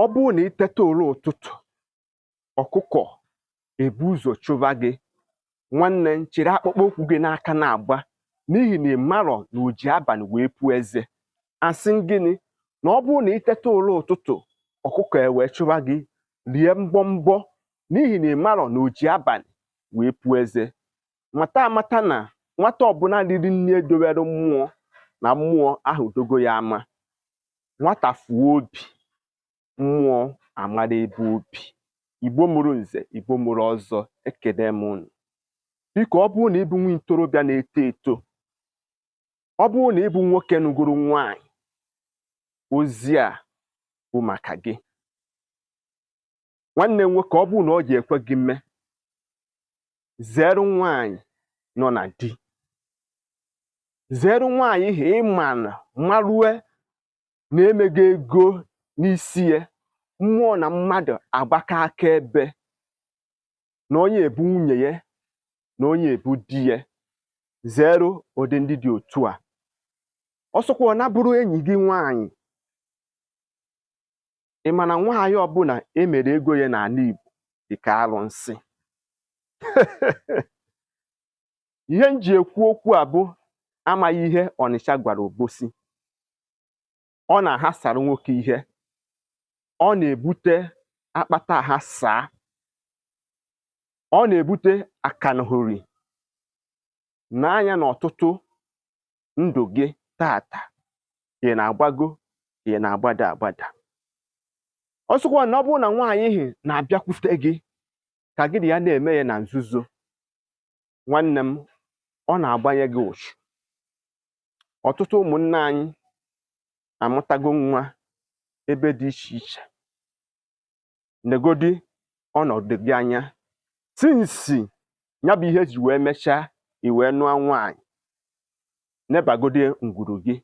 ọ bụrụ na ị teta ụra ụtụtụ ọkụkọ ebu ụzọ chụba gị nwanne m chịrị akpụkpọ ụkwụ gị n'aka na-agba n'ihi na ị marọ na o ji abalị wee puo eze asị m gịnị na ọ bụrụ na ị teta ụra ụtụtụ ọkụkọ ewee chụba gị rie mbọmbọ n'ihi na ị marọ na o ji abalị wee puo eze mata amata na nwata ọbụla riri nri edowere mmụọ na mmụọ ahụ dogo ya ama nwata fụọ opi mmụọ amara ebe o bi igbo mụrụ nze igbo mụrụ ọzọ ekele m unu biko ọ bụrụ na ịbụ nwa ntorobịa na-eto eto ọ bụrụ na ịbụ nwoke nụgoro nwaanyị ozi a bụ maka gị nwanne m nwoke ọ bụrụ na ọ ji ekwe gị mme zere nwaanyị nọ na di zere nwaanyị ahụ ịma na marue na emego ego n'isi ya mmụọ na mmadụ agbaka aka ebe na onye a bụ nwunye ya na onye a bụ di ya zere ụdị ndị dị otu a ọsọkwa ọ na-abụrụ enyi gị nwaanyị ị ma na nwaanyị ọbụla emere ego ya n'ala Igbo dị ka arụsị ihe m ji ekwu okwu a bụ amaghị ihe Ọnịcha gwara Obosi ọ na-ahasara nwoke ihe ọ na-ebute akpata ahasaa ọ na-ebute akanahori nee anya na ọtụtụ ndụ gị tata ị na-agbago ị na-agbada agbada ọsọkwa na ọ bụrụ na nwaanyị ahụ na-abịakwute gị ka gị na ya na-eme ya na nzuzo nwanne m ọ na-agbanye gị ụchụ ọtụtụ ụmụnne anyị amụtago nwa ebe dị iche iche negodi ọnọdụ gị anya since ya bụ ihe ji wee mechaa i wee nụọ nwaanyị nebagodi ngwuru gị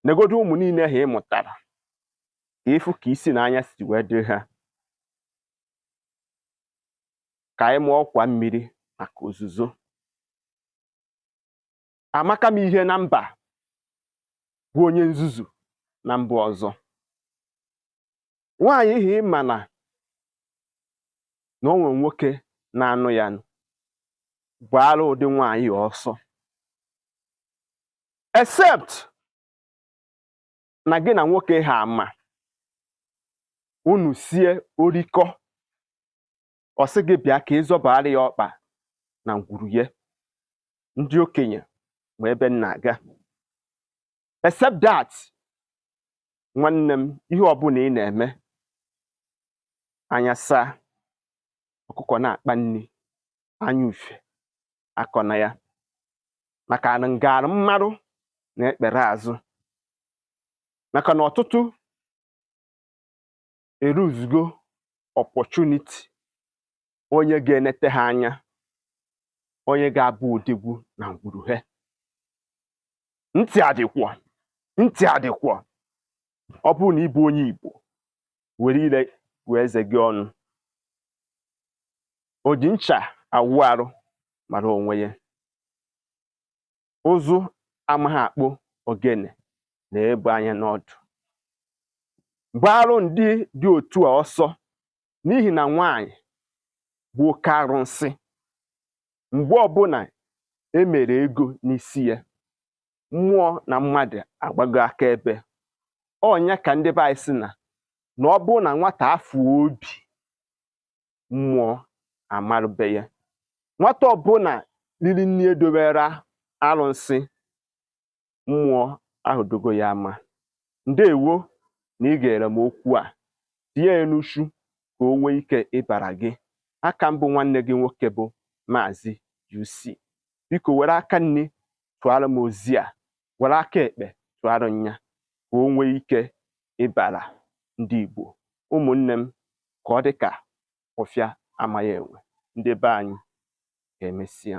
negodi ụmụ niile ha ị mụtara ka ịfụ ka isi na anya si wee dị ha ka anyị maa ọkwa mmiri maka ozuzo amaka m ihe na mba bụ onye nzuzu na mba ọzọ nwaanyị ahụ ịma na na o nwere nwoke na-anụ ya gbaara ụdị nwaanyị ahụ ọsọ except na gị na nwoke ha ama unu sie orikọ ọ sị gị bịa ka ịzọbara ya ọkpa na ngwuru ya ndị okenye ma ebe m na-aga except that nwanne m ihe ọbụla ị na-eme anya saa ọkụkọ na-akpa nri anya ufe akọna ya maka na ngara mmarụ na-ekpere azụ maka na ọtụtụ eruzugo opportunity onye ga-enete ha anya onye ga-abụ odogwu na ngwuru ha ntị adịkwọ ntị adịkwọ ọ bụrụ na ị bụ onye Igbo were ire gụọ eze gị ọnụ o ji ncha awụ arụ mara onwe ya ụzụ amaghị akpụ ogene nee egbe anya n'ọdụ gbarụ ndị dị otu a ọsọ n'ihi na nwanyị bụ oke arụsị mgbe ọbụla e mere ego n'isi ya mmụọ na mmadụ agbago akaebe ọ nya ka ndị be anyị sị na na ọ bụrụ na nwata afọ obi mmụọ amarụbe ya nwata ọbụla riri nri e dobere arụsị mmụọ ahụdogo ya ama ndewo na ị gere m okwu a tinye ya n'uchu ka o nwee ike ịbara gị a ka m bụ nwanne gị nwoke bụ maazị UC biko were aka nri tụara m ozi a were aka ekpe tụarụ nya ka o nwee ike ịbara ndị Igbo ụmụnne m ka ọ dị ka ọfịa amaghị enwe ndị be anyị ka e mesịa